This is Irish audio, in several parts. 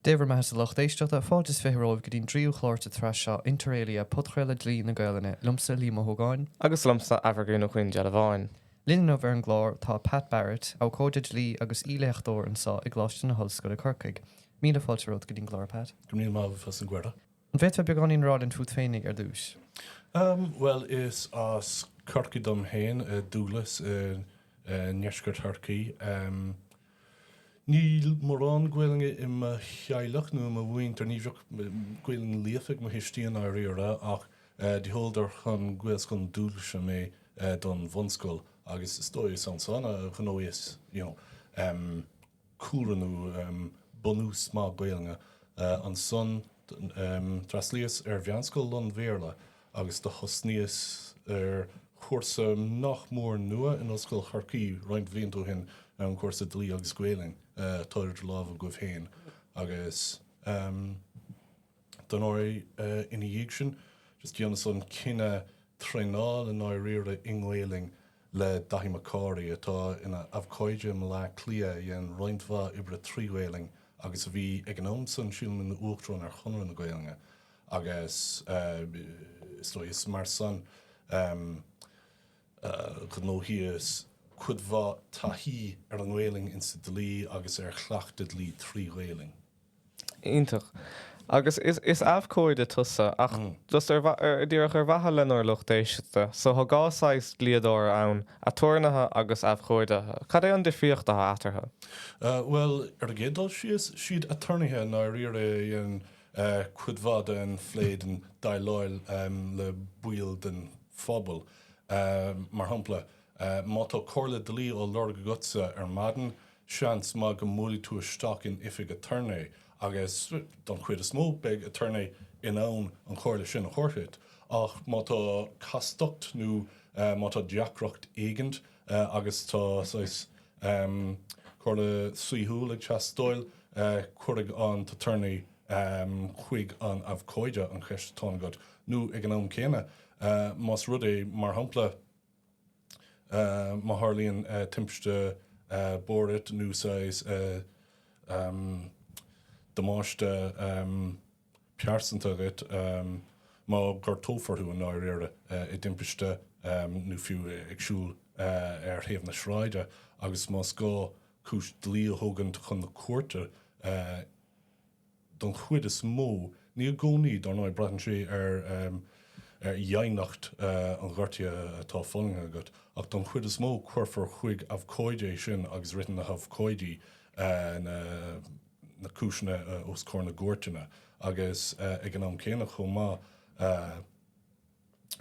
Dé bhur mbeathasa, a lucht éisteachta. Fáilte is fiche romhaibh go dtí'n dtríú chlár den tsraith seo, inter alia, podchraoladh Dlí na Gaelainne, liomsa, Liam Ó hÓgáin, Agus liomsa, Aimhirgín Ó Caoindealbháin. Linn inniu ar an gclár tá Pat Barrett, abhcóide dlí agus aoi-léachtóir anso i gColáiste na hOllscoile Corcaigh. Míle fáilte romhat go dtí'n gclár, Pat. Go raibh míle maith agat as an gcuireadh. An bhféadfá beagáinín a rá linn fút féinig ar dtúis? Bhuel, is as Corcaigh dom féin, Dúglas, i ndeisceart Chorcaí. Níl mórán Gaelainne i mo theaghlach nó i mo mhuintir, ní bhíodh Gaelainn líofa ag mo thuistí i ndáiríre ach do sheoladar chun Gaelscoil na Dúglaise mé don bhunscoil agus is dóigh is ansan a ghnóthaíos you know cúlra nó bunús maith Gaelainne. Ansan d'fhreastlaíos ar mheánscoil lán-Bhéarla agus do thosnaíos ar chúrsa nach mór nua in Ollscoil Chorcaí roinnt bhlianta ó shin, an cúrsa Dlí agus Gaelainn, atá idir lámha agaibh féin, agus don uair ina dhiaidh sin, just dheineas an cinneadh traenáil i ndáiríre i nGaelainn le Daithí Mac Cárthaigh, atá ina abhcóide i mBleá Cliath, a dhein roinnt mhaith oibre trí Ghaelainn agus a bhí, ag an am san, sílim, ina Uachtarán ar Chonradh na Gaelainne. agus is dóigh is mar san a ghnóthaíos cuid mhaith taithí ar an nGaelainn insa dlí agus ar chleachtadh dlí trí Ghaelainn. Iontach. Agus is abhcóide tusa ach just díreach ar mhaithe lenár lucht éisteachta, so tá dhá saghas dlíodóra ann, aturnaetha agus abhcóideacha. Cad é an difríocht atá eatarthu? Bhuel, ar an gcéad dul síos, siad aturnaetha i ndáiríre a dhéanann cuid mhaith den phlé den déileáil le baill den phobal. Mar shampla, má tá comhairle dlí á lorg agatsa ar maidin, seans maith go mbuailfidh tú isteach in oifig aturnae agus, don chuid is mó, beidh aturnae in ann an chomhairle sin a thabhairt duit. Ach má tá castacht nó má tá deacracht éigint, Eh agus tá saghas, em, comhairle saoithiúil ag teastáil. Eh cuirfidh an t-aturnae, em, chuig an abhcóide an cheist atá agat nó ag an am céanna, eh, más rud é mar shampla, eh, má tharlaíonn, eh, timpiste, eh, bóthair duit nó saghas, eh, em, damáiste, em, pearsanta agat má gortófar thú i ndáiríre, i dtimpiste nó fiú ag siúl ar thaobh na sráide agus más gá cúis dlí a thógaint chun na cúirte. Don chuid is mó, ní i gcónaí, dár ndóigh, braitheann sé ar dhéineacht an ghortaithe atá fulaingthe agat, ach don chuid is mó cuirfear chuig abhcóide é sin agus ritheann na habhcóidí na. na cúiseanna os comhair na gcúirteanna agus ag an am céanna chomh maith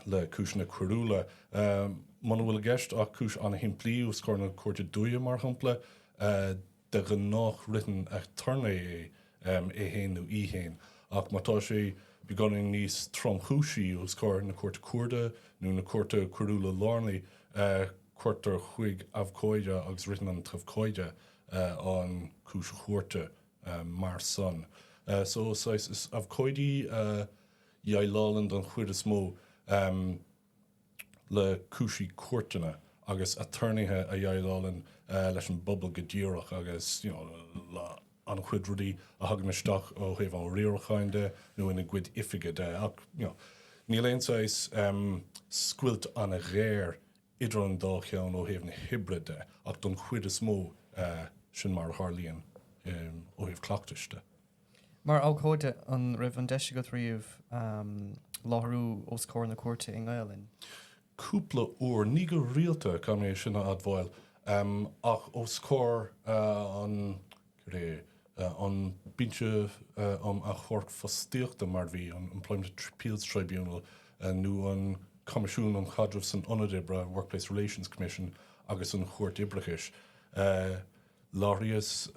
le cúiseanna coiriúla. Muna bhfuil i gceist ach cúis an-shimplí os comhair na Cúirte Dúiche mar shampla, de ghnáth ritheann aturnae é, é fhéin nó í fhéin, ach má tá sé beagáinín níos tromchúisí os comhair na Cúirte Cuarda nó na Cúirte Coiriúla Lárnaí, cuirtear chuig abhcóide agus ritheann an t-abhcóide. an chúis chúirte mar san. So is abhcóidí a dhéileálann don chuid is mó le cúisí cúirteanna agus aturnaetha a dhéileálann leis an bpobal go díreach agus an-chuid rudaí a thagann isteach ó thaobh an riaracháin de nó ina gcuid oifige de ach níl aon saghas scoilt an-ghéar idir an dá cheann ó thaobh na hoibre de ach don chuid is mó sin mar a tharlaíonn ó thaobh cleachtais de. Mar abhcóide, an raibh an deis agat riamh láithriú os comhair na cúirte i nGaelainn? Cúpla uair. Ní go rialta, caithfidh mé sin a admháil, ach os comhair an ré. An Binse um Achomharc Fostaíochta mar bhí an Employment Appeals Tribunal nó an Coimisiún um Chaidreamh san Ionad Oibre, Workplace Relations Commission, agus an Chúirt Oibreachais. Láithríos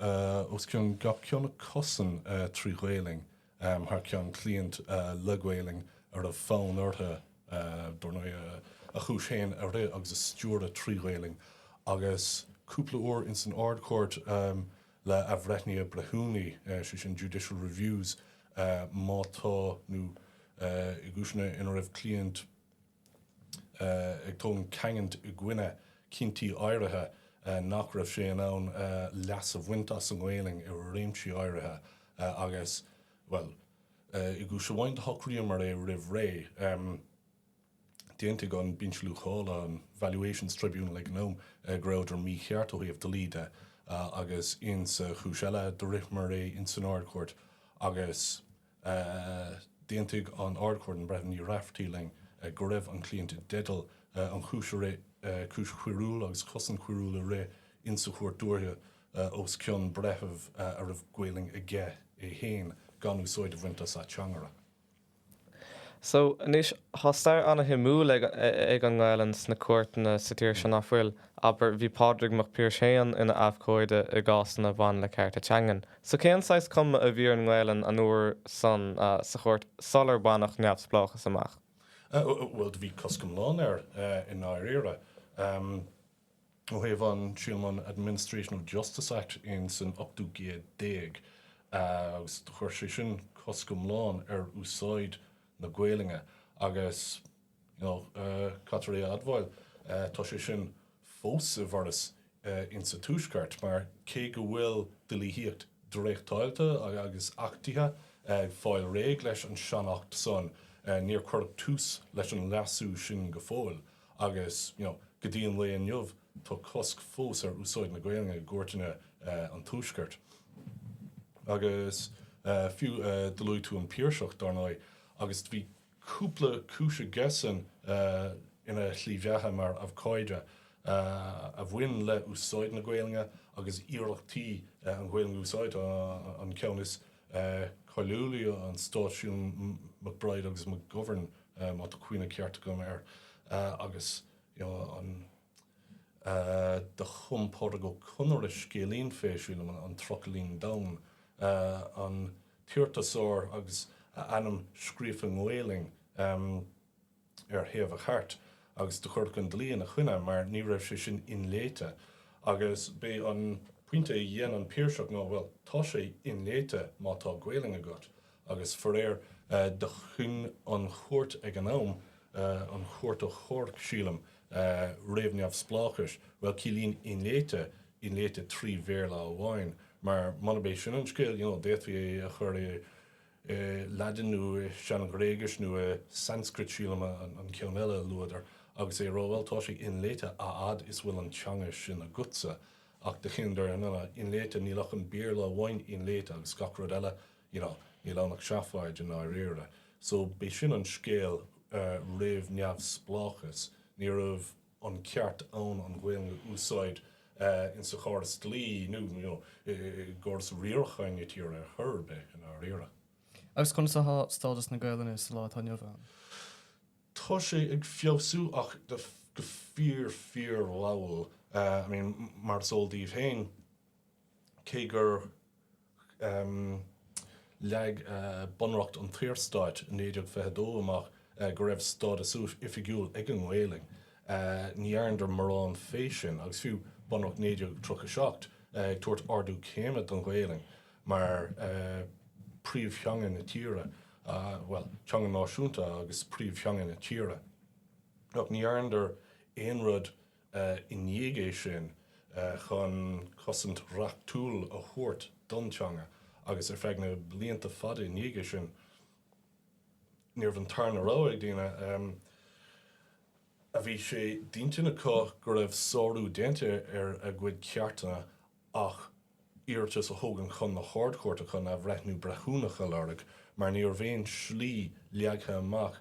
os cionn gach ceann acusan trí Ghaelainn. thar ceann cliant le Gaolainn a raibh fonn orthu, dár ndóigh, a chúis fhéin a rith agus a stiúradh trí Ghaolainn agus cúpla uair ins an Ard-Chúirt le athbhreithnithe breithiúnaí, sé sin Judicial Reviews, má tá nó i gcúiseanna ina raibh cliant. ag tógaint caingean i gcoinne cinntí áirithe, nach raibh sé in ann leas a bhaint as an nGaelainn i réimsí áirithe agus, bhuel, i gcúis amháin do shocraíomar é roimh ré. D'aontaigh an Binse Luachála, an Valuations Tribunal ag an am, go rabhadar mícheart ó thaobh dlí de agus insa chúis eile do ritheamar é insan Ard-Chúirt agus, D'aontaigh an Ard-Chúirt, an Breitheamh Ní Raifeartaí, linn go raibh an cliant i dteideal an chúis a rith, cúis choiriúil agus cosaint choiriúil a rith in sa Chúirt Dúiche os cionn breitheamh a raibh Gaolainn aige é féin gan úsáid a bhaint as ateangaire. So, anois, thá stair ana-shuimiúil ag an nGaolainn sna cúirteanna sa tír seo, ná fuil? Abair, bhí Pádraig Mac Piarais féin ina abhcóide i gcásanna a bhain le cearta teangan. So cén saghas cuma a bhí ar an nGaelainn an uair san sa Chúirt sular baineadh neamhspleáchas amach? Bhuel do bhí cosc iomlán uirthi i ndáiríre. Ó thaobh an, sílim an Administration of Justice Act in san ochtú gcéad déag agus chuir sé sin cosc iomlán ar úsáid na Gaelainne agus, Nó caithfear é a admháil, Tá sé sin fós i bhfearas insa Tuaisceart mar cé go bhfuil dlíthíocht dréachtáilte agus achtaithe ag fáil réidh leis an sean-acht san, níor cuireadh tús leis an leasú sin go fóill agus go dtí an lae inniu tá cosc fós ar úsáid na Gaelainne i gcúirteanna an Tuaiscirt. Agus fiú do luaigh tú an Piarsach, dar ndóigh, agus bhí cúpla cúis aigesan ina slí bheatha mar abhcóide, a bhain le úsáid na Gaelainne agus iarrachtaí an Ghaelainn a úsáid, an ceann is cáiliúlaí an Stát i gcoinne McBride agus McGovern má tá cuimhne ceart agam air agus you know an. Do chum Pádraig Ó Conaire scéilín fé chiú'l, An Trucailín Donn, an t-iarratasóir agus a ainm scríofa i nGaelainn ar thaobh a chairt, agus do cuireadh an dlí ina choinne mar ní raibh sé sin inléite. Agus b'é an pointe a dhein an Piarsach ná, bhuel, tá sé inléite má tá Gaelainn agat. Agus faraor, do chinn an Chúirt ag an am, an Chúirt Achomhairc, sílim, réamh-neamhspleáchais, bhuel, ciallaíonn inléite, inléite trí Bhéarla amháin, mar munab é sin an scéal, you know, d'fhéadfaí é a chur i Laidin nó i Sean-Ghréigis nó i Sanscrit, sílim an ceann eile a luadar, agus é a rá, bhuel, tá sé inléite a fhad is a bhfuil an teanga sin agatsa. Ach do chinneadar, no, no, inléite, níl ach an Béarla amháin inléite agus gach rud eile, you know, níl ann ach seafóid i ndáiríre. So b'í sin an scéal roimh neamhspleáchas. Ní raibh an ceart ann an Ghaeilge a úsáid insa chóras dlí nó, you know, i gcóras riaracháin na tíre ar chor ar bith i ndáiríre. Agus conas atá stádas na Gaelainne sa lá atá inniu ann? Tá sé ag feabhsú ach go fíor, fíor mhall. I mean, mar is eol daoibh féin, cé gur leag Bunreacht an tSaorstáit 1922 amach go raibh stádas oifigiúil ag an nGaelainn, ní dhearnadar mórán fé sin, agus fiú Bunreacht 1937 ag tabhairt ardú céime don Ghaelainn mar príomh-theanga na tíre, bhuel, teanga náisiúnta agus príomh-theanga na tíre, ach ní dhearnadar aon rud i ndiaidh é sin, chun cosaint reachtúil a thabhairt don teanga agus ar feadh na blianta fada i ndiaidh é sin, ní raibh an tarna rogha ag daoine, a bhí sé d'intinn acu go raibh sárú déanta ar a gcuid ceartanna ach iarratas a thógaint chun na hArd-Chúirte chun athbhreithniú breithiúnach a lorg, mar ní raibh aon slí leagtha amach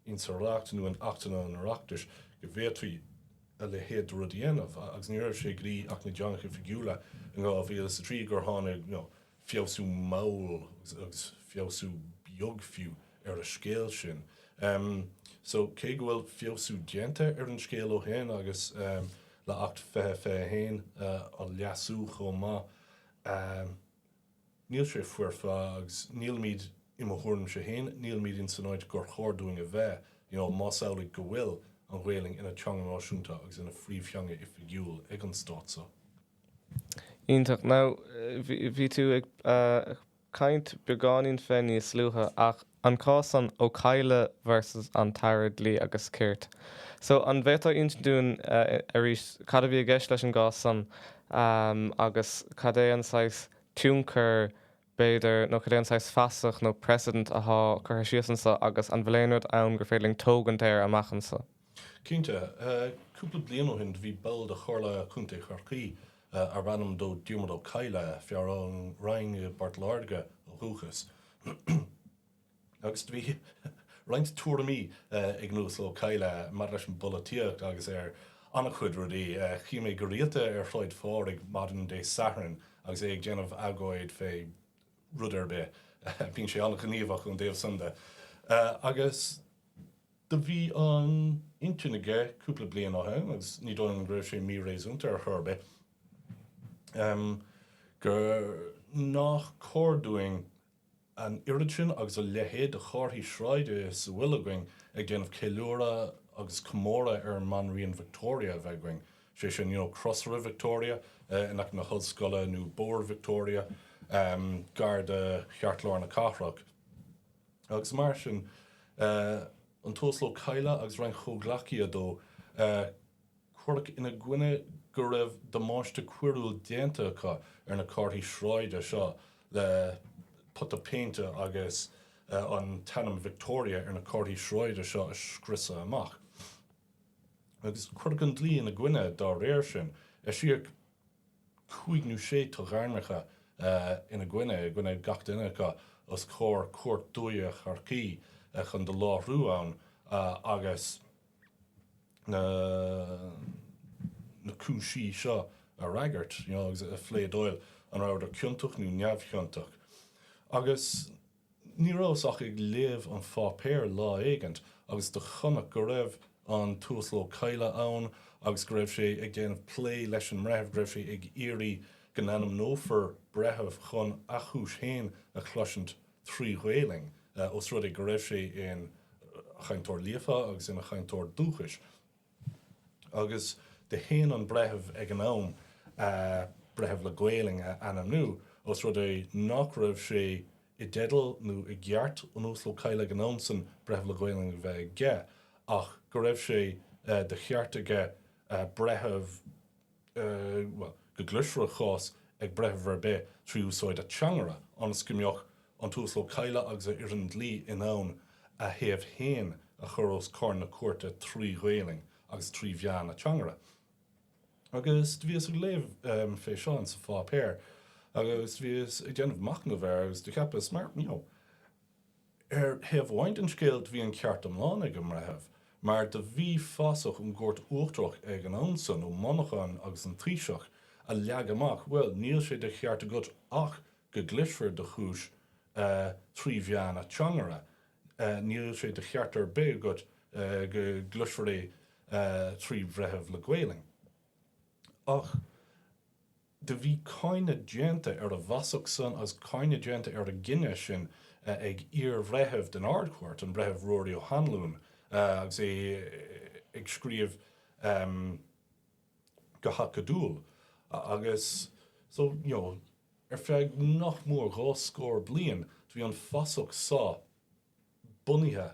in sa Reacht nó in Achtanna an Oireachtais go bhféadfaí a leithéid de rud a dhéanamh, agus ní raibh sé go dtí Acht na dTeangacha Oifigiúla in 2003 gur tháinig, you know. feabhsú mall agus feabhsú beag fiú ar an scéal sin. So cé go bhfuil feabhsú déanta ar an scéal ó shoin agus le Acht 2021 á leasú chomh maith, níl sé foirfe agus nílimíd, i mo thuairimse féin, nílimíd ins an áit gur chóir dúinn a bheith, you know, más amhlaidh go bhfuil an Ghaelainn ina teanga náisiúnta agus ina phríomhtheanga oifigiúil ag an Stát so. Iontach. Now, bhí tú ag caint beagáinín fé níos luaithe ach an cás san Ó Cadhla versus an tAire Dlí agus Cirt. So, an bhféadfá insint dúinn arís cad a bhí i gceist leis an gcás san agus cad é an saghas tionchar b'fhéidir, nó cad é an saghas fasach nó precedent athá curtha síos annso agus an bhfuil aon rud ann gur féidir linn tógaint air amach annso. Cinnte. Cúpla bliain ó shin do bhí ball de Chomhairle Contae Chorcaí arbh ainm dó Diarmuid Ó Cadhla, fear ón Rinn i bPort Láirge ó dhúchas, Agus do bhí roinnt tuairimí ag an Uasal Ó Cadhla maidir leis an bpolaitíocht agus ar an-chuid rudaí. Chím é go rialta ar Shráid Phádraig maidin Dé Sathairn agus é ag déanamh agóid fé rud ar bith. Bíonn sé an-ghníomhach ón dtaobh san de. Agus do bhí an intinn aige cúpla bliain ó shoin, agus ní dóigh liom go raibh sé mí-réasúnta ar chor ar bith, gur nách cóir dúinn, An oiread sin agus a leithéid de chárthaí sráide is a bhfuil againn ag déanamh ceiliúradh agus comóradh ar an mBanríon Victoria a bheith againn, sé sin, you know, Crosaire Victoria in aice na hOllscoile nó Bóthar Victoria gar do cheartlár na cathrach agus mar sin. An tUasal Ó Cadhla agus roinnt comhghleacaithe dó, cuireadh ina gcoinne go raibh damáiste coiriúil déanta acu ar na comharthaí sráide seo le pota péinte agus an t-ainm Victoria ar na comharthaí sráide seo a scriosadh amach. Agus cuireadh an dlí ina gcoinne dá réir sin. Eisíodh cúig nó sé toghairmeacha ina gcoinne, i gcoinne gach duine acu, os comhair Chúirt Dúiche Chorcaí chun do láithriú ann agus, na cúisí seo a fhreagairt you know, agus a phléadáil an rabhadar ciontach nó neamhchiontach. Agus ní rabhas ach ag léamh an pháipéir lá éigint agus do chonac go raibh an tUasal Ó Cadhla ann agus go raibh sé ag déanamh plé leis an mbreitheamh go raibh sé ag iarraidh go n-ainmneofar breitheamh chun a chúis féin a chloisint trí Ghaelainn, os rud é go raibh sé ina chainteoir líofa agus ina chainteoir dúchais. Agus do shéan an breitheamh ag an am breitheamh le Gaelainn a ainmniú, os rud é nach raibh sé i dteideal nó i gceart an Uasail Ó Cadhla ag an am san breitheamh le Gaelainn a bheith aige, ach go raibh sé de cheart aige breitheamh. bhuel, go gcloisfear a chás ag breitheamh ar bith trí úsáid ateangaire, ionas go mbeadh an tUasal Ó Cadhla agus a fhoireann dlí in ann a thaobh féin a chur os comhair na cúirte trí Ghaelainn agus trí mheán ateangaire. Agus do bhíos ag léamh fé seo insa pháipéar agus do bhíos ag déanamh machnamh air agus do cheapas mar, you know, Ar thaobh amháin den scéal do bhí an ceart iomlán ag an mBreitheamh mar do bhí fasach ón gCúirt Uachtarach ag an am san, Ó Monacháin agus an Taoiseach, a leag amach, bhuel, níl sé de cheart agat ach go gcloisfear do chúis trí mheán ateangaire, níl sé de cheart ar bith agat go gcloisfear é trí Bhreitheamh le Gaolainn. Ach. Do bhí cáineadh déanta ar an bhfasach san agus cáineadh déanta ar an gcinneadh sin ag iar-bhreitheamh den Ard-Chúirt, an Breitheamh Ruairí Ó hAnluain, agus é ag scríobh go hacadúil agus so, you know, ar feadh nach mór dhá scór bliain do bhí an fasach so. bunaithe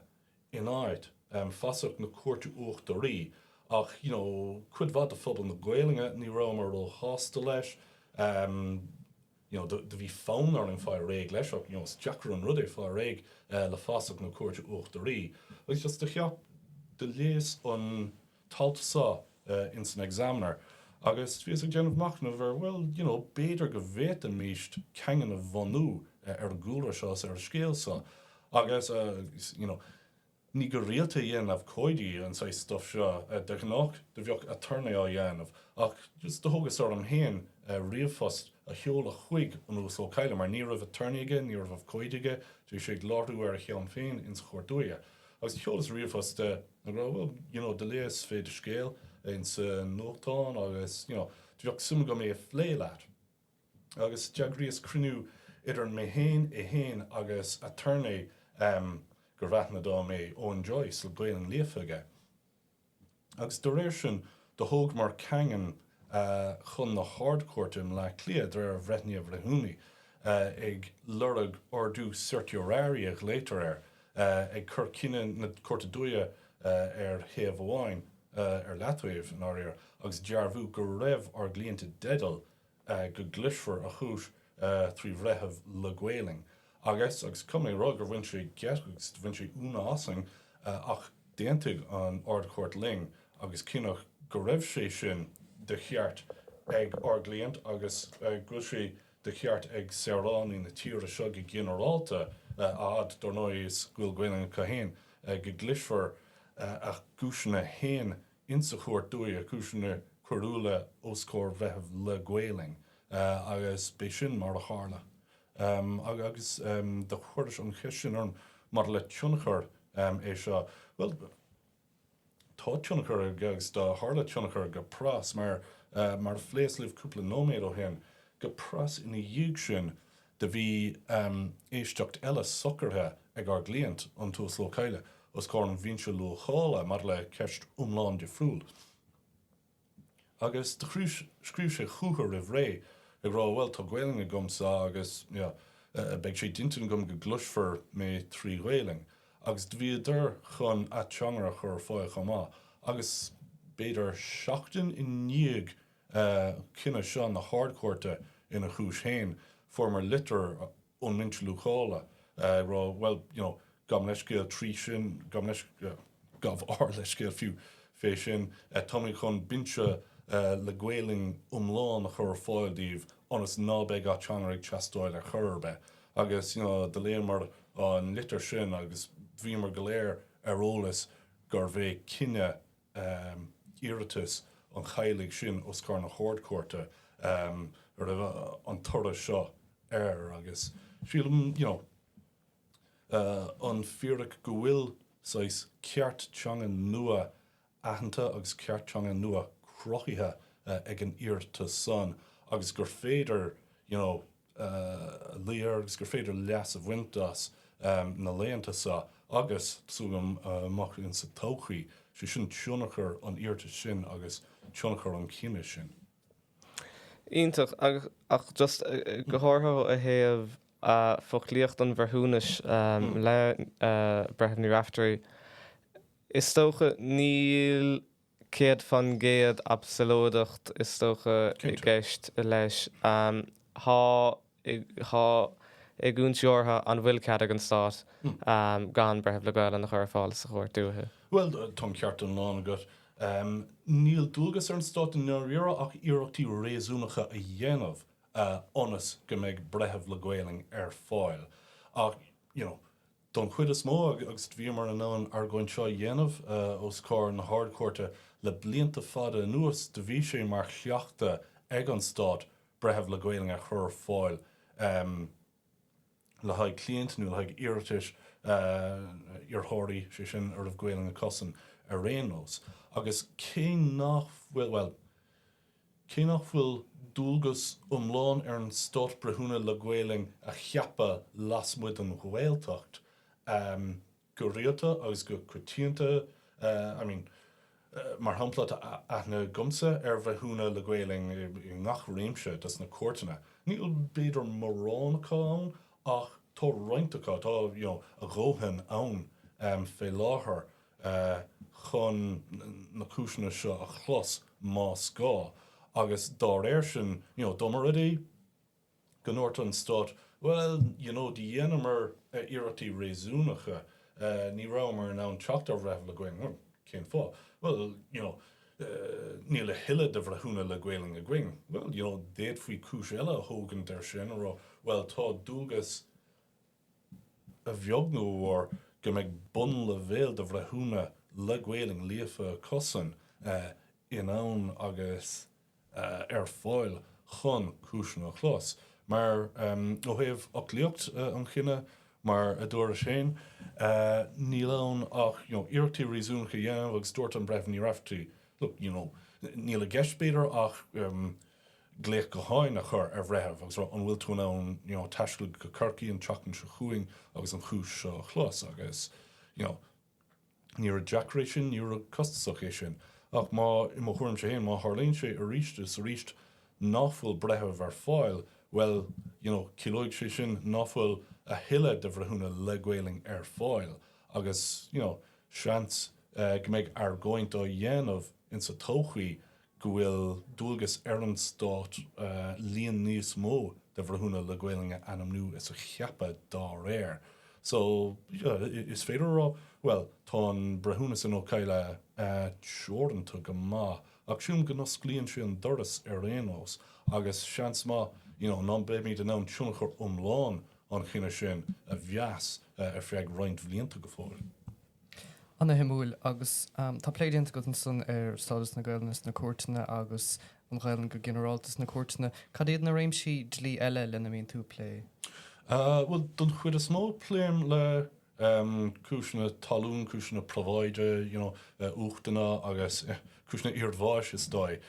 in áit fasach na Cúirte Uachtaraí ach you know cuid mhaith de phobal na Gaolainne ní rabhamar ró shásta leis you know do bhí fonn orainn fáil réidh leis ach you know is deacair an rud é fáil réidh le fasach na Cúirte Uachtaraí agus just do cheap do léas an t-alt so ins an Examiner agus bhíos ag déanamh machnaimh air bhuel you know b'fhéidir go bhféadfaimíst caingean a bhunú ar an gcúlra seo is ar an scéal so agus you know ní go rialta a dhéanann abhcóidí an saghas stuif seo. De ghnáth do bheadh aturnae á dhéanamh ach just do thógas orm féin ríomhphost a sheoladh chuig an Uasal Ó Cadhla mar ní raibh aturnae aige, ní raibh abhcóide aige, do bhí sé ag láithriú ar a shon féin insa Chúirt Dúiche. Agus sheolas ríomhphost ag rá, well, you know, do léas fé do scéal ins an nuachtán agus, you know, do bheadh suim agam é a phlé leat. Agus d'eagraíos cruinniú idir mé féin, é féin agus aturnae gurbh aithne dom é, Eoin Joyce, le Gaelainn líofa aige. agus do réir sin do thógamar caingean chun na hArd-Chúirte i mBleá Cliath de réir athbhreithnithe bhreithiúnaigh, ag lorg ordú certiorari a ghlaotar air, ag cur cinneadh na Cúirte Dúiche ar thaobh amháin, ar leataobh, i ndáiríre, agus dearbhú go raibh ár gcliant i dteideal, go gcloisfear a chúis trí bhreitheamh le Gaoluinn agus agus caithfidh mé a rá gur bhain sé geit agus do bhain sé iúnadh asainn ach d'aontaigh an Ard-Chúirt linn agus cinneadh go raibh sé sin de cheart ag ár gcliant agus go bhfuil sé de cheart ag saoránaigh na tíre seo go ginearálta a fhad dar ndóigh is go bhfuil Gaoluinn acu féin go gcloisfear a gcúiseanna féin ins a' Chúirt Dúiche, cúiseanna coiriúla os comhair bhreitheamh le Gaoluinn agus b'é sin mar a tharla. Agus do chuiris an cheist sin orm maidir le tionchar é seo, bhuel tá tionchar aige agus do tharla tionchar go pras mar, mar a phléas libh cúpla nóiméad ó shin, go pras ina dhiaidh sin, Do bhí éisteacht eile socraithe ag ár gcliant, an tUasal Ó Cadhla, os comhair an Bhinse Luachála maidir le ceist iomlán difriúil. Agus do scríobh sé chúthu roimh ré ag rá bhuel, tá Gaelainn agamsa agus, you know, beidh sé d'intinn agam go gcloisfear mé trí Ghaelainn. Agus do bhíodar chun ateangaire a chur ar fáil chomh maith. Agus b'fhéidir seachtain i ndiaidh cinneadh seo na hArd-Chúirte ina chúis féin. Fuaireamar litir ón mBinse Luachála ag rá, bhuel, you know, gabh mo leithscéal trí sin, gabh mo leithscéal, gabh ár leithscéal fiú, fé sin. Táimid chun Binse le Gaoluinn iomlán a chur ar fáil daoibh ionas ná beidh ateangaire ag teastáil ar chor ar bith. Agus, you know, do léamar an litir sin agus bhíomar go léir ar eolas gurbh é cinneadh um iarratas an Cheallaigh sin os comhair na hArd-Chúirte um roimh an toradh seo ar agus sílim you know uh an fíric go bhfuil saghas ceart teanga nua aitheanta agus ceart teanga nua cruthaithe uh ag an iarratas san agus gur féidir you know léamh air agus gur féidir leas a bhaint as na laethanta sa agus súil agam amach in sa todhchaí. Sé sin tionchar an iarratais sin agus tionchar an chinnidh sin. Iontach, ach just go háirithe ó thaobh foclaíocht an bhreithiúnais le Breitheamh Ní Raifeartaigh, is dócha níl Céad fan gcéad absalóideacht is dócha i gceist leis. Táim ag iontas ortha an bhfuil cead ag an Stát gan Breitheamh le Gaolainn a chur ar fáil sa Chúirt Dúiche. Bhuel, tá an ceart iomlán agat. Níl dualgas ar an Stát i ndáiríre ach iarrachtaí réasúnacha a dhéanamh ionas go mbeidh Breitheamh le Gaolainn ar fáil. Ach, you know, don chuid is mó agus bhíomar in ann an argóint seo a dhéanamh os comhair na hArd-Chúirte le blianta fada anuas do bhí sé mar chleachtadh ag an Stát breitheamh le Gaolainn a chur ar fáil le haghaidh cliaint nó le haghaidh iarratais iarrthóirí, sé sin, a raibh Gaolainn acusan ar aon nós agus cé nach bhfuil, bhuel. Cé nach bhfuil dualgas iomlán ar an Stát Breithiúna le Gaolainn a cheapadh lasmuigh den Ghaeltacht, go rialta agus go coitianta, I mean, mar shampla tá aithne agamsa ar Bhreithiúna le Gaolainn i ngach réimse de sna cúirteanna, níl b'fhéidir mórán acu ann ach tá roinnt acu, tá, you know, a ndóthain ann fé láthair. chun na cúiseanna seo a chlos más gá agus dá réir sin you know dá mba rud é go ndúirt an Stát bhuel you know do dheineamar iarrachtaí réasúnacha ní rabhamar in ann teacht ar bhreitheamh le Gaolainn bhuel cén fáth bhuel you know níl a thuilleadh de bhreithiúna le Gaolainn againn bhuel you know d'fhéadfaí cúis eile a thógaint ar sin a rá bhuel tá dualgas a bheag nó a mhór, go mbeidh bunleibhéal de bhreithiúna le Gaolainn líofa acusan in ann agus ar fáil chun cúiseanna a chlos. Mar, ó thaobh fhoclaíocht an chinnidh, mar a dúraís féin, níl ann ach, you know, iarrachtaí réasúnacha a dhéanamh agus dúirt an Breitheamh Ní Raifeartaigh, look, you know, níl i gceist b'fhéidir ach, glaoch gutháin a chur ar bhreitheamh agus rá an bhfuil tú in ann you know taisteal go Corcaigh an tseachtain seo chugainn agus an chúis seo a chlos agus you know ní rud deacair é sin, ní rud costasach é sin. Ach má, i mo thuairimse féin, má tharlaíonn sé arís is arís ná fuil breitheamh ar fáil, bhuel, you know, ciallóidh sé sin ná fuil a dhóthain de bhreithiúna le Gaolainn ar fáil agus, you know, seans go mbeidh argóint á dhéanamh insa todhchaí go bhfuil dualgas ar an Stát líon níos mó de bhreithiúna le Gaolainn a ainmniú is a cheapadh dá réir. So, is féidir a rá, bhuel, tá an breithiúnas in Ó Cadhla teoranta go maith, ach sílim go n-osclaíonn sé an doras ar aon nós, agus seans maith, you know, ná beimíd in ann tionchar iomlán an chinnidh sin a mheas ar feadh roinnt bhlianta go fóill. Ana-shuimiúil. Agus tá plé déanta agat ansan ar stádas na Gaelainne sna cúirteanna agus an Ghaelainn go ginearálta sna cúirteanna. Cad iad na réimsí dlí eile lena mbíonn tú ag plé? Bhuel, don chuid is mó pléim le cúiseanna talún, cúiseanna probháide, you know, uachtanna agus cúiseanna iarbháis is dóigh.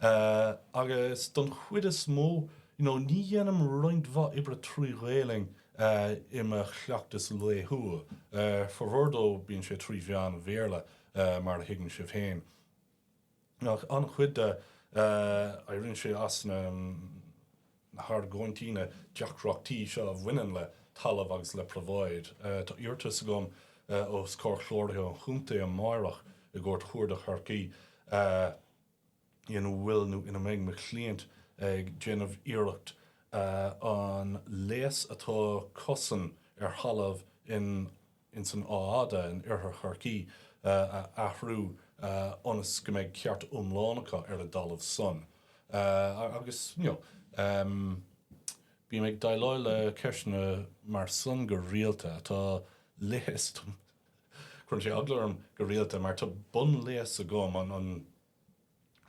Agus don chuid is mó, you know, ní dhéanaim roinnt mhaith oibre trí Ghaelainn. i mo chleachtas laethúil. Formhór de bíonn sé trí mheán an Bhéarla mar a thuigeann sibh féin. Ach an-chuid de, éiríonn sé as na hargóintí, na deacrachtaí seo a bhaineann le talamh agus le probháid. Tá iarratas agam os comhair Chláraitheoir an Chontae amárach i gCúirt Chuarda Chorcaí. ina bhfuil nó ina mbeidh mo chliant ag déanamh iarracht an léas atá acusan ar thalamh ins an Áth Fhada in Oirthear Chorcaí a athrú ionas go mbeidh ceart iomlán acu ar a dtalamh san agus you know em bím ag déileáil le ceisteanna mar san go rialta atá leigheas dom. Cuireann sé eagla orm go rialta mar tá bunléas agam, an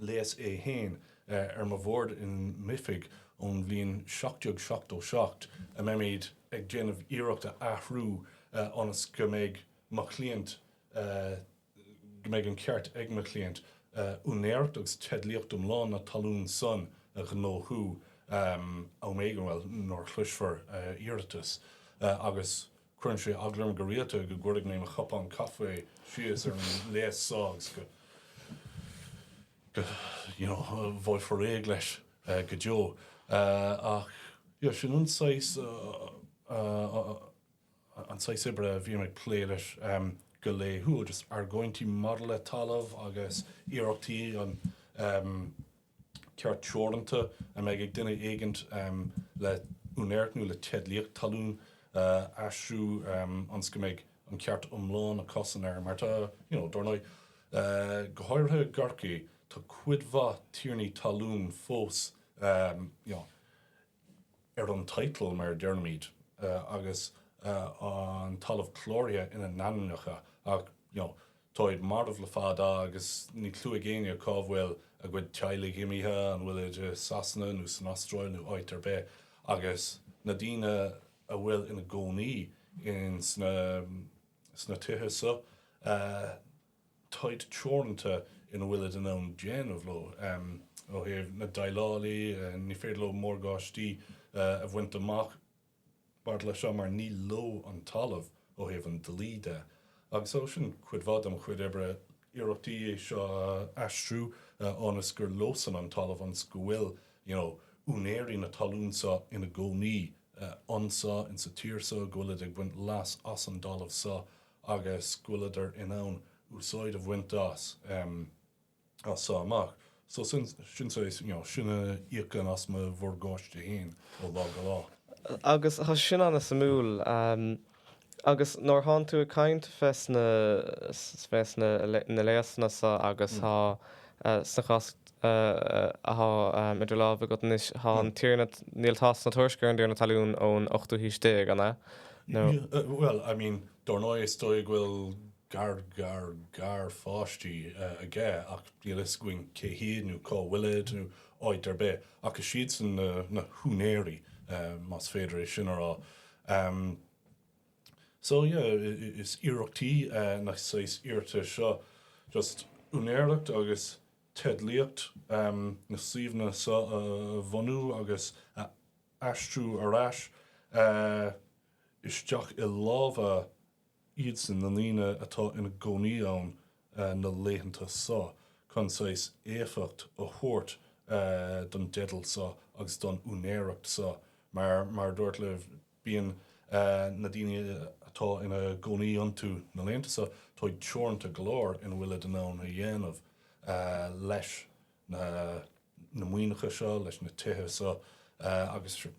léas é fhéin, ar mo bhord in m'oifig ón bhliain 1777 a mbeimíd ag déanamh iarracht a athrú ionas go mbeidh mo chliant, go mbeidh an ceart ag mo chliant úinéireacht agus teidlíocht iomlán na talún san a ghnóthú am éigin, bhuel, nuair a chloisfear a iarratas agus. Cuireann sé eagla orm go rialta go gcuirfidh mé mo chupán caife síos ar an léas so agus go, you know, bhfaighfear réidh leis go deo. Ach, yeah, sin an saghas, an saghas oibre a bhím ag plé leis go laethúil, just argóintí maidir le talamh agus iarrachtaí an, ceart teoranta a mbeidh ag duine éigint le úinéireacht nó le teidlíocht talún a aistriú ionas go mbeidh an ceart iomlán é a chosaint air mar tá you know dár ndóigh go háirithe i gCorcaigh tá cuid mhaith tiarnaí talún fós you know. ar an title mar a deirimíd, agus an talamh cláraithe in a n-ainmneacha ach you know táid marbh le fada agus níl clue ag éinne cá bhfuil a gcuid teaghlaigh imithe, an bhfuilid i Sasana nó san Astráil nó áit ar bith. Agus na daoine a bhfuil in a gcónaí in sna sna tithe seo, táid teoranta ina bhfuilid in ann déanamh leo. Ó thaobh na déileálaithe, ní féidir leo morgáistí a bhaint amach maidir leis seo mar ní leo an talamh ó thaobh an dlí de. Agus so sin cuid mhaith dem chuid oibre, iarrachtaí é seo a aistriú ionas gur leosan an talamh ionas go bhfuil you know úinéirí na talún seo ina gcónaí anso insa tír seo, go bhfuilid ag baint leas as an dtalamh seo. agus go bhfuil siad in ann úsáid a bhaint as so amach. So sin, sin saghas, you know, sin a íocann as mo mhorgáiste fhéin ó lá go lá. Agus thá sin an-suimiúil. Agus nuair thánn tú ag caint fés na, fés na, na léasanna so agus thá, sa chás, atá idir lámha agat anois. Thá an Tiarna, níl tásc ná tuairisc ar an dTiarna Talún ón ochtú haois déag, an ea? Nó. Níl, bhuel, I mean, dár ndóigh is dóigh go bhfuil gar-gar-gar-pháistí aige ach níl a fhios againn cé hiad nó cá bhfuilid nó áit ar bith. Ach is siadsan na húinéirí, más féidir é sin a rá. So, yeah, is iarrachtaí, na saghas iarratais seo, just úinéireacht agus teidlíocht na suíomhanna so a bhunú agus a aistriú ar ais isteach i lámha iadsan, na daoine atá ina gcónaí ann na laethanta so, chun saghas éifeacht a thabhairt don dteideal so agus don úinéireacht so. Mar a dúirt leat. Bíonn na daoine atá ina gcónaí iontu, na laethanta so, táid teoranta go leor ina bhfuilid in ann a dhéanamh leis na maoineacha seo, leis na tithe so, agus ní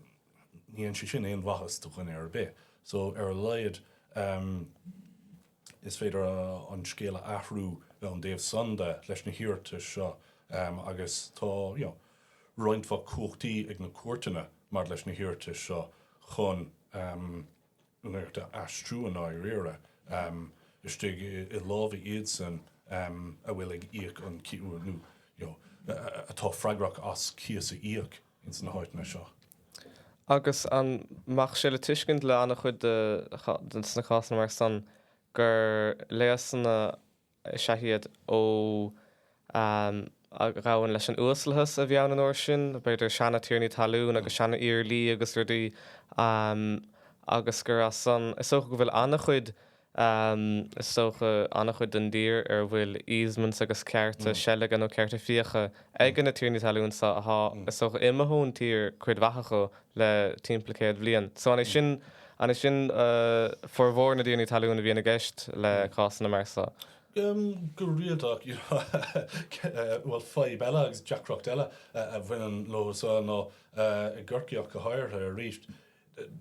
dhéanann sé sin aon mhaitheas do dhuine ar bith. So, ar a laghad, is féidir an scéal a athrú ón dtaobh san de, leis na hiarratais seo, agus tá, you know, roinnt mhaith cumhachtaí ag na cúirteanna maidir leis na hiarratais seo chun an oidhreacht a aistriú i ndáiríre. Istigh i lámha iadsan a bhfuil ag íoc an chíosa nó atá freagrach as cíos a íoc ins na háiteanna seo. Agus an mbeadh sé le tuiscint le an-chuid de sna cásanna mar san gur léasanna Is ea iad ó a ghabhann leis an uaslathas a bhí ann an uair sin, b'fhéidir seana-tiarnaí talún agus seana-iarlaí agus rudaí agus gur as san, is dócha go bhfuil an-chuid, is dócha an-chuid den dtír ar a bhfuil easements agus cearta seilge nó cearta fiaigh ag na tiarnaí talún so, atá, is dócha, imithe ón tír, cuid mhaith acu. le timpeall céad bhliain. So an é sin an é sin formhór na dtiarnaí talún a bhíonn i gceist le cásanna mar so? Go rialta you know bhuel fadhb eile agus deacracht eile a bhaineann leosan ná i gCorcaigh go háirithe arís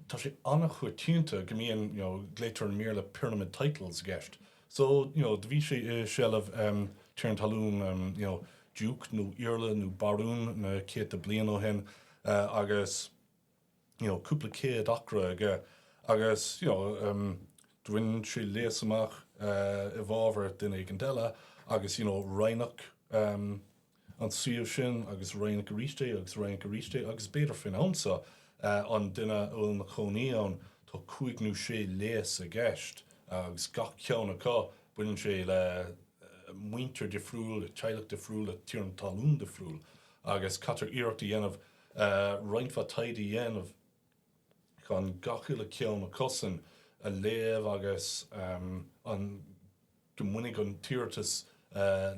tá sé an-choitianta go mbíonn you know glaoitear an mír le pyramid titles i gceist So, you know, do bhí sé i seilbh, em, tiarna talún, em, you know, diúc nó iarla nó barún na céadta bliain ó shin, eh, agus, you know, cúpla céad acra aige agus, you know, em, do dhein sé léas amach, eh, i bhfábhar duine éigint eile agus, you know, roinneadh, em, an suíomh sin agus roinneadh arís é agus roinneadh arís é agus b'fhéidir faoin am seo an duine a bhfuil ina chónaí ann tá cúig nó sé léas i gceist agus gach ceann acu baineann sé le muintir dhifriúil, le teaghlach difriúil, le tiarna talún difriúil agus caitear iarracht a dhéanamh roinnt mhaith taighde a dhéanamh chun gach uile ceann acusan a léamh agus an. go mbainfidh an t-iarratas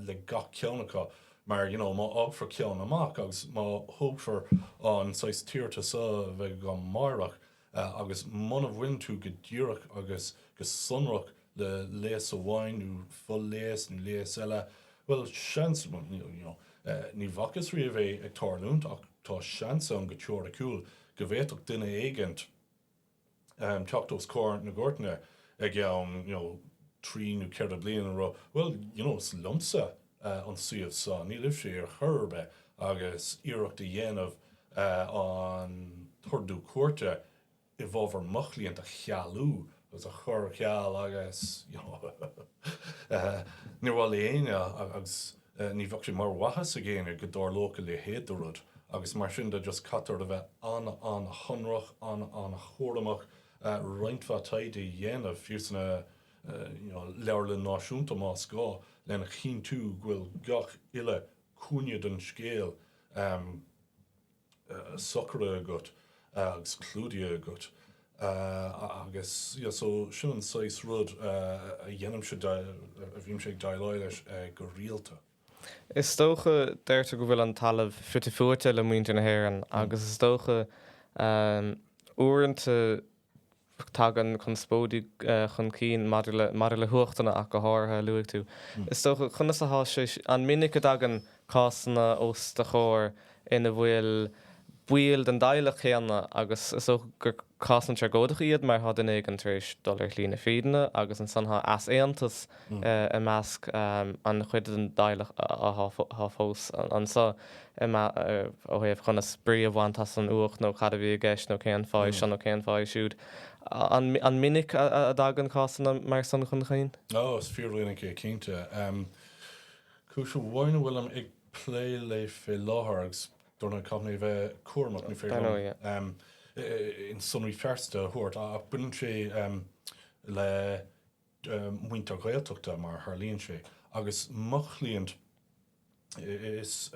le gach ceann acu mar, you know, má fhágfar ceann amach agus má thógfar an saghas t-iarratas a bheith go meáite agus muna mbaineann tú go díreach agus go sonrach le léas amháin nó fo-léas nó léas eile, bhuel, seans, well, you know, ní bhfacthas riamh é ag tarlúint ach tá seans ann go teoiriciúil go bhféadfadh duine éigint, teacht os comhair na gcúirteanna i gceann, you know, trí nó ceithre bliana, a rá, bhuel, you know, is liomsa an suíomh seo, ní libhse é ar chor ar bith agus iarracht a dhéanamh an t-ordú cúirte i bhfábhar mo chliant a chealú agus a chur ar ceal agus, you know, níor mhaith le éinne agus. Ní bheadh sé mar mhaitheas ag éinne go dtarlódh a leithéid de rud agus mar sin de just caitear a bheith an-an-shonrach, an-an-chúramach, roinnt mhaith taighde a dhéanamh, fiú sa you know leabharlann náisiúnta más gá, lena chinntiú go bhfuil gach uile cúinne den scéal, socraithe agat agus clúdaithe agat agus yeah so sin an saghas rud a dhéanaimse a bhímse ag déileáil leis go rialta. Is dócha, deirtear go bhfuil an talamh fite fuaite le muintir na hÉireann agus is dócha uaireanta, tagann conspóidí chun cinn maidir le, maidir le huachtanna ach go háirithe, a luaigh tú. Is dócha, conas a thá sé, an minic a dtagann cásanna os do chomhair ina bhfuil baill den dteaghlach céanna agus is dócha gur cásanna tragóideacha iad mar thá duine éigin tar éis dul ar shlí na fírinne agus ansan thá easaontas i measc an chuid den dteaghlach athá fós anso, ó thaobh conas brí a bhaint as an uacht nó cad a bhí i gceist nó cén fáth é seo nó cén fáth é siúd. An minic a dtagann cásanna mar san chun chinn? O, is fíor-mhinic é cinnte. Cúis amháin a bhfuilim ag plé léi fé láthair, agus dár ndóigh caithfidh mé a bheith cúramach, ní féidir liom aon sonraí pearsanta a thabhairt, ach baineann sé le, muintir Gaeltachta mar a tharlaíonn sé agus mo chliant is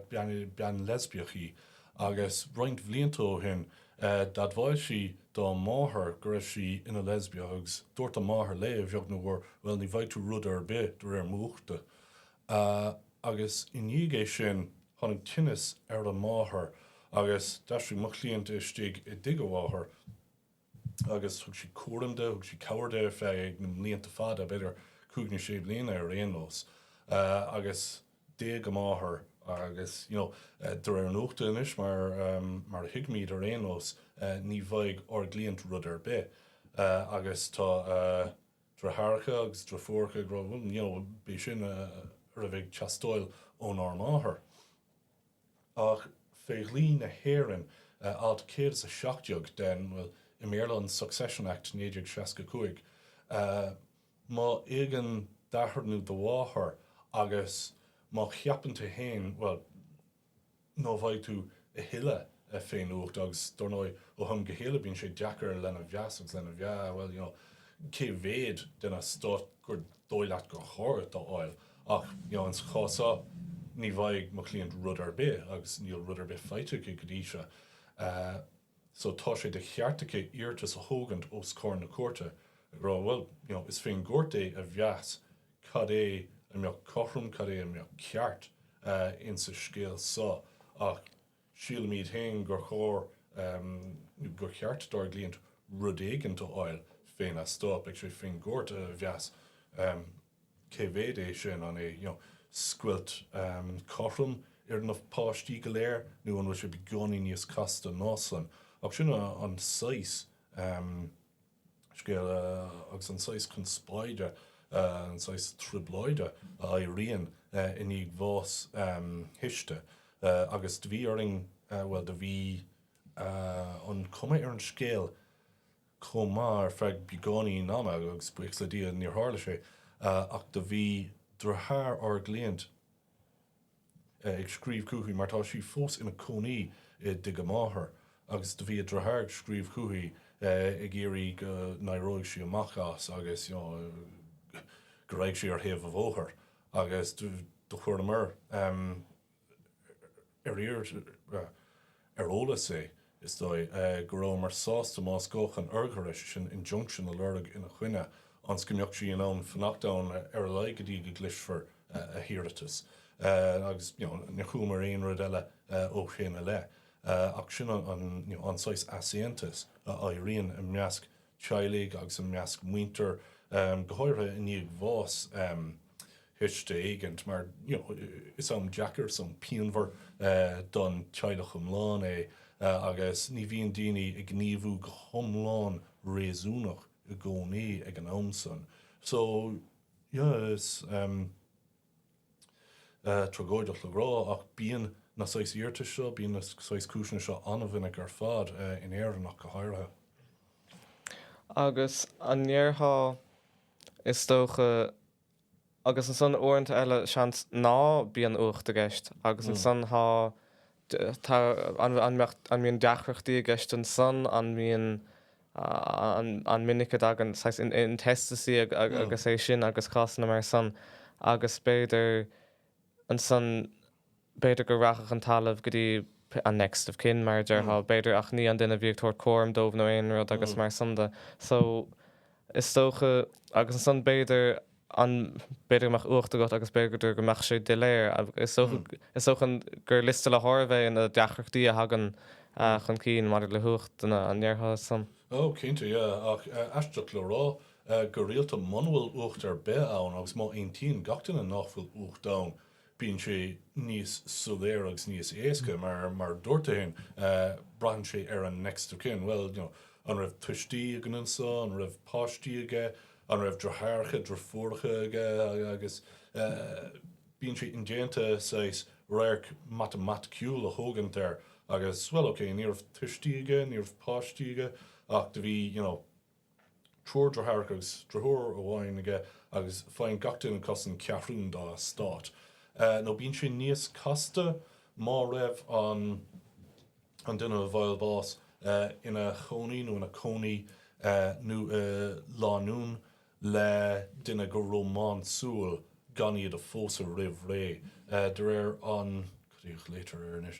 bean leisbiach í agus roinnt blianta ó shin d'admháil sí dá máthair go raibh sí ina leisbiach agus dúirt a máthair léi a bheag nó mhór bhuel ní bhfaighidh tú rud ar bith de réir m'uachta agus i ndiaidh é sin tháinig tinneas ar an máthair agus d'aistrigh mo chliant istigh i dtigh a mháthar. agus thug sí cúram di, thug sí cabhair di ar feadh na mblianta fada, b'fhéidir cúig nó sé bliana ar aon nós. Agus d'éag a máthair agus, you know, de réir an uachta anois mar, mar a thuigimíd ar aon nós, ní bhfaighidh ár gcliant rud ar bith. Agus tá a driotháracha agus a driofúracha ag rá, bhuel, you know, b'é sin a raibh ag teastáil ónár máthair. Ach fé dhlí na hÉireann, alt céad is a seacht déag den, bhuel, i mBéarla, an Succession Act, 1965, má éagann d'athair nú do mháthair agus má cheapann tú féin, bhuel, ná bhfaighidh tú a thuilleadh fén uacht, agus dár ndóigh, ó ham go chéile bíonn sé deacair lena mheas agus lena mheá, bhuel, you know, cé mhéad den eastát gur dóigh leat gur chóir dhuit a fháil? Ach insa chás so, ní bhfaighidh mo chliant rud ar bith agus níl rud ar bith faighte aici go dtí seo. So tá sé de cheart aici iarratas a thógaint os comhair na cúirte ag rá bhuel, you know, is fén gcúirt é a mheas cad é a bheadh cothrom, cad é a bheadh ceart insa scéal so. Ach. Sílimíd féin gur chóir nó gur cheart dár gcliant rud éigint do fháil fén eastát. Beidh sé fén gCúirt a mheas cé mhéid é sin, an é scoilt cothrom ar na páistí go léir nó an bhfuil sé beagáinín níos casta ná san. Ach sin an saghas. scéal agus an saghas conspóide, an saghas trioblóide a éiríonn i ndiaidh bhás thuiste agus do bhí orainn, bhuel do bhí an chuma ar an scéal chomh maith ar feadh beagáinín ama agus buíochas le Dia níor tharla sé ach do bhí driotháir ár gcliant, ag scríobh chúichi mar tá sí fós ina cónaí i dtig a máthar agus do bhí a driotháir ag scríobh chúichi ag iarraidh go n-éireóidh sí amach as agus you know go raghadh sí ar thaobh an bhóthair agus do chuireamair ar iarraidh ar eolas é, is dóigh, go rabhamar sásta más gá chun urghaire, sé sin injunction, a lorg ina choinne, ionas go mbeadh sí in ann fanacht ann ar a laghad go dtí go gcloisfear a hiarratas. Agus you know níor chualamair aon rud eile ó shin i leith. Ach sin an you know an saghas easaontais a éiríonn i measc teaghlaigh agus i measc muintir, go háirithe i ndiaidh bhás thuiste éigint, mar is am deacair, is am pianmhar don teaghlach iomlán é agus ní bhíonn daoine ag gníomhú go hiomlán réasúnach i gcónaí ag an am san. So, yeah, is. tragóideach le rá, ach bíonn na saghas iarratais seo, bíonn na saghas cúiseanna seo an-mhinic ar fad, in Éirinn ach go háirithe. Agus an ndéarfá, is dócha, agus ansan uaireanta eile, seans, ná bíonn uacht i gceist, agus ansan tá, tá, an, an mbeadh, an mbíonn deacrachtaí i gceist ansan, an mbíonn, An minic a dtagann saghas intestacy agus é sin agus cásanna mar san agus b'fhéidir ansan b'fhéidir go rachadh an talamh go dtí an next of kin mar a déarfá b'fhéidir ach ní an duine a bhí ag tabhairt cúram dóibh nó aon rud agus mar san de. So is dócha agus ansan b'fhéidir ann, b'fhéidir go mbeadh uacht agat agus b'fhéidir go mbeadh sé doiléir. Is dócha gur liosta le háireamh é na deacrachtaí a thagann chun cinn maidir le huacht duine. An ndéarfása san? Ó, cinnte, yeah. Ach aisteach le rá, go rialta muna bhfuil uacht ar bith ann, agus má aontaíonn gach duine nách bhfuil uacht ann, bíonn sé níos soiléire agus níos éasca mar, mar a dúirt tú fhéin, braitheann sé ar an next of kin, bhuel, you know, an raibh tuistí aige annso, an raibh páistí aige, an raibh driotháracha, driofúracha aige agus bíonn sé indéanta saghas radharc matamaiticiúil a thógaint air agus, bhuel, okay, ní raibh tuistí aige, ní raibh páistí aige ach do bhí, you know, Triúr driotháracha agus driofúr amháin aige agus faigheann gach duine cosaint ceathrún dá estát. Nó bíonn sé níos casta má raibh an an duine a bhfuair bás ina chónaí nó ina cónaí nó i lánúin le duine go rómánsúil gan í a phósadh roimh ré. De réir an cad é a ghlaotar air anois?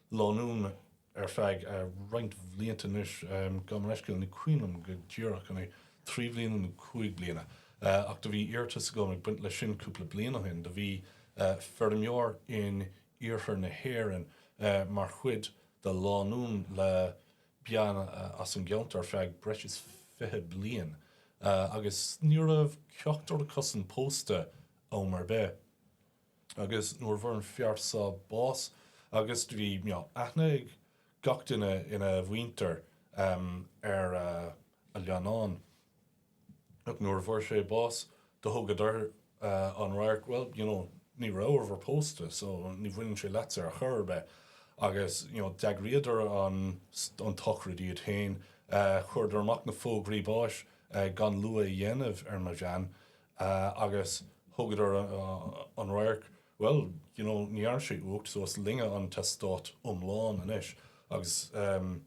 lánúin ar feadh roinnt bhlianta anois, gabh mo leithscéal, ní cuimhin liom go díreach an é trí bliana nó cúig bliana, ach do bhí iarratas agam ag baint leis sin cúpla bliain ó shin, do bhí feirmeoir in iarthar na hÉireann mar chuid de lánúin le bean as an gceantar ar feadh breis is fiche bliain agus ní raibh ceachtar acusan pósta am ar bith. Agus nuair a bhfuair an fear so bás agus do bhí aithne ag gach duine ina mhuintir ar a leannán. Ach nuair a bhfuair sé bás do thugadar an radharc well you know ní rabhabhair pósta so ní bhaineann sé leatsa ar chor ar bith. Agus you know d'eagraíodar an an tsochraid iad féin. Chuireadar amach na fógraí báis gan lua a dhéanamh ar mo bhean Eh, agus thugadar an radharc, bhuel, you know, ní dhearn sé uacht so is linne an t-eastát iomlán anois agus, em,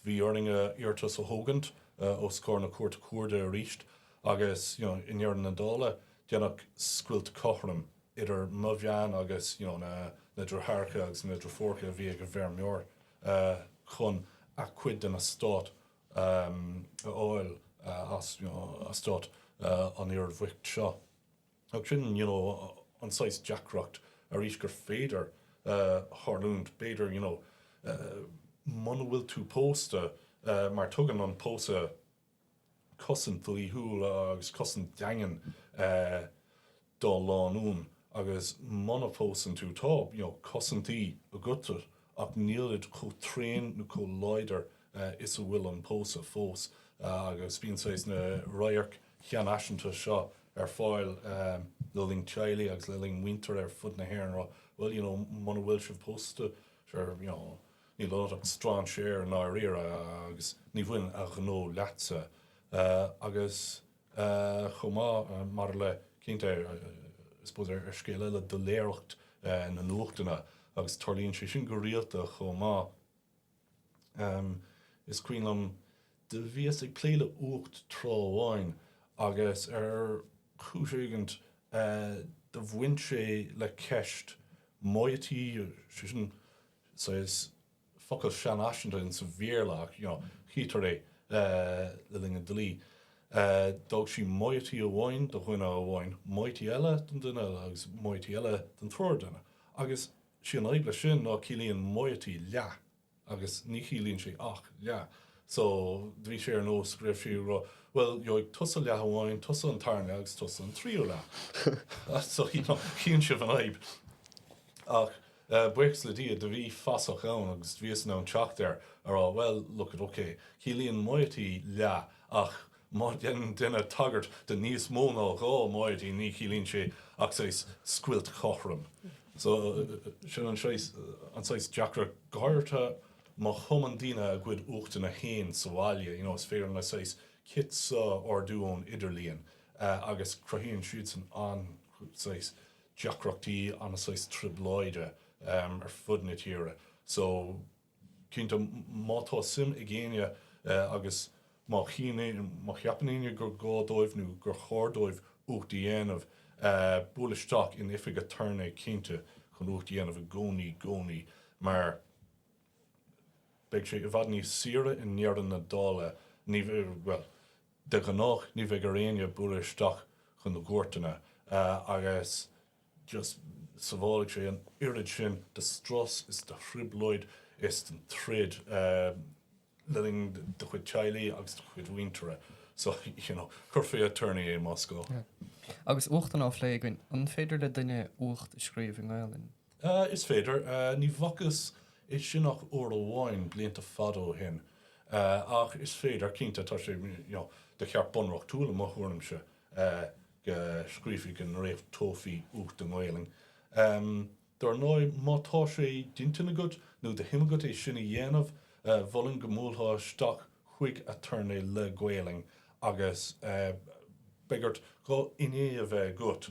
bhí orainne iarratas a thógaint, eh, os comhair na Cúirte Cuarda aríst agus, you know, i ndeireadh na dála, deineadh scoilt chothrom idir mo bhean agus, you know, na, na driotháracha agus na driofúracha a bhí ag an bhfeirmeoir, eh, chun a' cuid den eastát a fháil as eastát an fhir bhoicht seo. Ach sin you know an saghas deacracht arís gur féidir tharlúint, b'fhéidir you know muna bhfuil tú pósta mar tugann an pósadh cosaint dhlíthiúil agus cosaint dhaingean do lánúin agus muna phósann tú tá, you know, cosaintí agatsa ach nílid chomh tréan nó chomh láidir is atá an pósadh fós agus bíonn saghas na radhairc sheanfhaiseanta seo ar fáil le linn teaghlaigh agus le linn muintire ar fud na hÉireann a rá bhuel, you know, muna bhfuil sibh pósta sure, you know, níl ionat ach strainséir i ndáiríre agus ní bhaineann a ghnó leatsa agus. chomh maith maidir le cinnte, I suppose, ar scéal eile doiléireacht na n-uachtanna agus tarlaíonn sé sin go rialta chomh maith um is cuimhin liom do bhíos ag plé le uacht tráth amháin agus ar chúis éigint do bhain sé le ceist moiety sé sin saghas focal sean-fhaiseanta ins an Bhéarla ach, you know, tchítear é le linn an dlí. D'fhág sí moiety amháin do dhuine amháin, moiety eile don duine eile agus moiety eile don triúr duine. Agus sí an fhadhb leis sin ná ciallaíonn moiety leath agus ní chiallaíonn sé ach leath. So, do bhí sé ar nós go raibh sí ag rá, bhuel, gheobhaidh tusa leath amháin, tusa an tarna leath agus tusa an tríú leath. So, you know, chíonn sibh an fhadhb. Ach, Buíochas le Dia, do bhí fasach ann agus do bhíos in ann teacht air, a rá, Well, look it, okay, ciallaíonn moiety leath, ach má dhéanann duine tagairt do níos mó ná dhá moiety ní chiallaíonn sé ach saghas scoilt cothrom. So, sin an saghas, an saghas deacracht. Go háirithe má chumann daoine a gcuid uachtanna fhéin sa bhaile, you know, is féidir na saghas kits seo a ordú ón idirlíon agus cruthaíonn siad san an-, saghas, deacrachtaí, an-, saghas, trioblóide ar fud na tíre so cinnte má tá suim ag éinne agus má cheapann éinne gur gá dóibh nó gur chóir dóibh uacht a dhéanamh buail isteach in oifig aturnae cinnte chun uacht a dhéanamh i gcónaí, gcónaí mar beidh sé i bhfad níos saoire i ndeireadh na dála, ní, bhuel. De ghnáth ní bheidh ar éinne bualadh isteach chun na gcúirteanna agus just sabhálfaidh sé an oiread sin de strus is de thrioblóid is den troid le linn do chuid teaghlaigh agus do chuid mhuintire. So, you know, cuir fé aturnae é más gá. Agus uachtanna á phlé againn, an féidir le duine uacht a scríobh i nGaelainn? Sea, is féidir. Ní bhfacthas é sin ach uair amháin, blianta fada ó shin. Ach is féidir, cinnte. Tá sé, you know, de cheart bunreachtúil, i mo thuairimse, go scríofaí, go ndréachtófaí uacht i nGaolainn. Dar ndóigh, má tá sé d'intinn agat nó de shuim agat é sin a dhéanamh, mholfainn go mbuailtheá isteach chuig aturnae le Gaolainn agus b'fhearr duit dhá fhinné a bheith agat.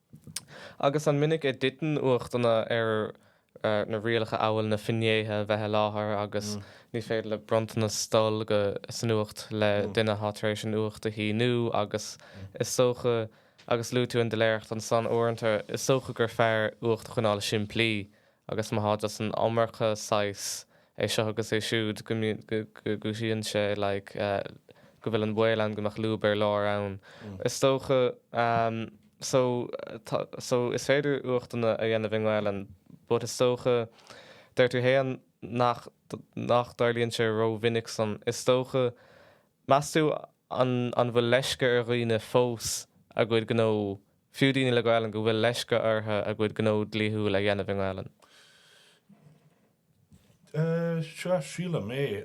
Agus an minic a dtiteann uachtanna ar na rialacha amhail na finnéithe a bheith i láthair agus ní féidir le bronntanas dul go san uacht le duine atá tar éis an uacht a shíniú agus is dócha agus luaigh tú an doiléireacht ansan uaireanta is dócha gur fearr uacht a choinneáil simplí agus má thá an iomarca saghas é seo agus é siúd go go gcúisíonn sé like go bhfuil an baol ann go mbeadh lúb ar lár ann is dócha so so is féidir uachtanna a dhéanamh i nGaelainn but is dócha deir tú fhéin nach nach dtarlaíonn sé ró-mhinic san is dócha meas tú an an bhfuil leisce ar dhaoine fós a gcuid gnó Fiú daoine le Gaelainn go bhfuil leisce ortha a gcuid gnó dlíthiúil a dhéanamh i nGaelainn. Sea, sílim é.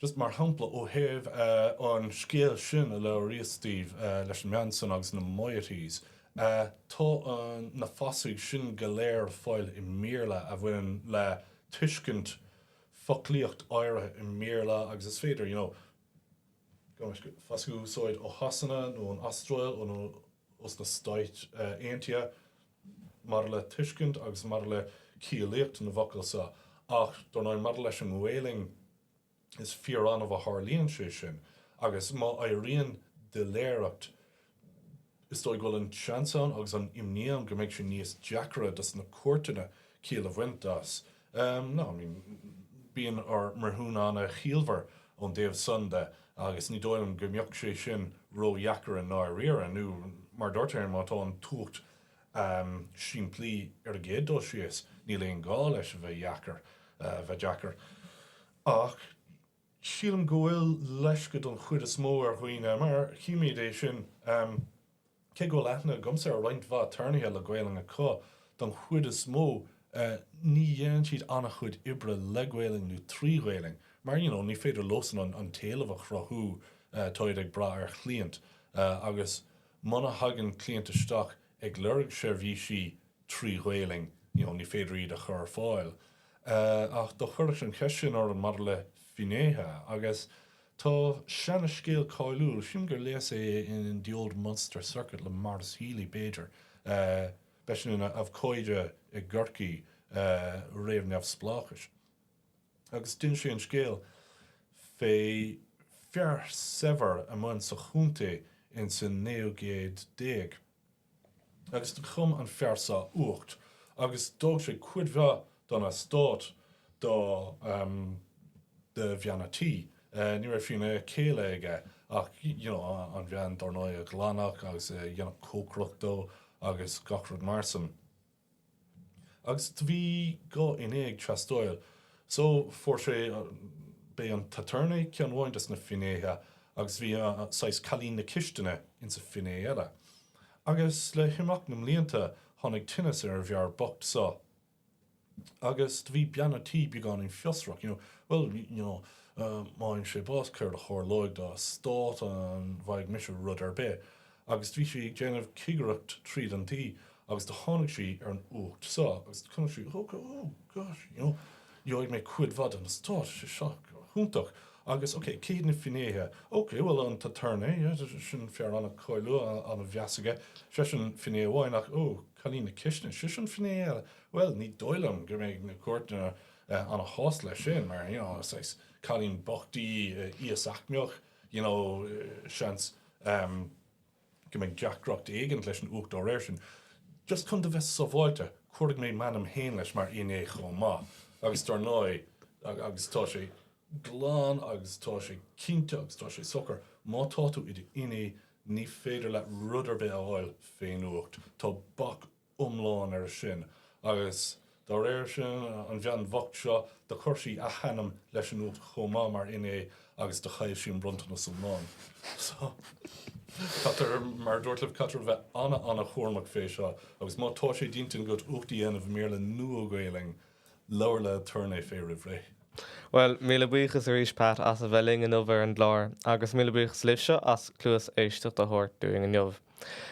Just mar shampla, ó thaobh an scéal sin a labhraíos daoibh leis an mbean san agus na moieties, tá na fasaigh sin go léir ar fáil i mBéarla a bhaineann le tuiscint foclaíocht áirithe i mBéarla agus is féidir, you know, fasaigh a úsáid ó Shasana nó ón Astráil nó ó sna Stáit Aontaithe maidir le tuiscint agus maidir le ciallaíocht na bhfocal seo. Ach, dár ndóigh, maidir leis an nGaelainn, is fíor-annamh a tharlaíonn sé sin, agus má éiríonn doiléireacht Is dóigh go bhfuil an seans ann, agus an imní ann, go mbeidh sé níos deacra dos na cúirteanna ciall a bhaint as. Nó, I mean, bíonn ár mbreithiúna an-chiallmhar ón dtaobh san de, agus ní dóigh liom go mbeadh sé sin ró-dheacair i ndáiríre, nó mar a dúirt Éamonn, má tá an t-uacht simplí ar an gcéad dul síos, níl aon ghá leis a bheith deacair. Ach. Sílim go bhfuil leisce don chuid is mó ar dhaoine, mar chímíd é sin, cé go bhfuil aithne agamsa ar roinnt mhaith aturnaetha le Gaelainn acu, don chuid is mó ní dhéanann siad an-chuid oibre le Gaelainn nó trí Ghaelainn, mar you know ní féidir leosan an t-éileamh a chruthú, táid ag brath ar chliaint agus muna thagann cliaint isteach ag lorg seirbhísí, trí Ghaelainn, you know, ní féidir iad a chur ar fáil. Ach do chuireas an cheist sin orm maidir le finnéithe agus tá seana scéal cáiliúil, sílim gur léas é in The Old Munster Circuit le Maurice Healy b'fhéidir, b'eisean ina abhcóide i gCorcaigh réamh-neamhspleáchais agus d'inis sé an scéal fé fear saibhir a mhair sa chontae ins an naoú céad déag. Agus do chum an fear so uacht agus d'fhág sé cuid mhaith den eastát do bhean a' tí. Ní raibh bean chéile aige ach you know an bhean dár ndóigh a ghlanfadh agus a dhéanfadh cócaireacht dó agus gach rud mar san. Agus do bhí dhá fhinné ag teastáil. So fuair sé b'é an t-attorney ceann amháin des na finnéithe agus bhí saghas cailín na cistine ina finné eile. Agus le himeacht na mblianta tháinig tinneas ar an bhfear bocht so. Agus do bhí bean an tí beagáinín fiosrach, you know, well, you know, má fhaigheann sé bás cad a tharlóidh don eastát? An bhfaighidh mise rud ar bith? Agus bhí sí ag déanamh cigireacht tríd an tigh agus do tháinig sí ar an uacht so agus do chonaic sí oh go oh gosh you know gheobhaidh mé cuid mhaith den eastát tá sé seo go hiontach agus ok cé hiad na finnéithe ok bhuel an t-aturnae yeah sin fear an-cáiliúil an-mheas aige sé sin finné amháin ach oh cailín na cistine sé sin finné eile bhuel ní dóigh liom go mbeidh na cúirteanna an-shásta leis sin mar you know saghas cailín bocht í íos-aicmeach you know, seans um go mbeidh deacracht éigint leis an uacht dá réir sin. Just chun a bheith sabháilte, cuirfidh mé m'ainm fhéin leis mar fhinné chomh maith agus dár ndóigh agus tá sé glan agus tá sé cinnte agus tá sé socair, má tá tú i d'fhinné ní féidir leat rud ar bith a fháil fén uacht. Tá bac iomlán air sin agus dá réir sin an bhean bhocht seo do chuir sí a hainm leis an uacht chomh maith mar fhinné agus do chaill sí an bronntanas iomlán. So caithfear mar a dúrt libh caithfear a bheith ana-ana-chúramach fé seo agus má tá sé d'intinn agat uacht a dhéanamh i mBéarla nó i nGaeilge Labhair le haturnae fé roimh ré. Bhuel, míle buíochas arís Pat as a bheith linn inniu ar an gclár, agus míle buíochas libhse as cluas éisteacht a thabhairt dúinn inniu.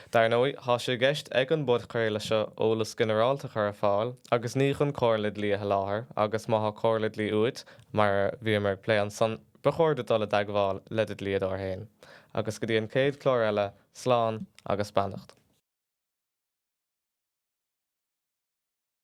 Dar ndóigh, tá sé i gceist ag an bpodchraoladh seo eolas ginearálta a chur ar fáil, agus ní chun comhairle dlí a sholáthar, agus má tá comhairle dlí uait, mar a bhíomar ag plé ansan, ba chóir duit dul i dteagmháil le do dhlíodóir féin. Agus go dtí an chéad chlár eile, slán agus beannacht.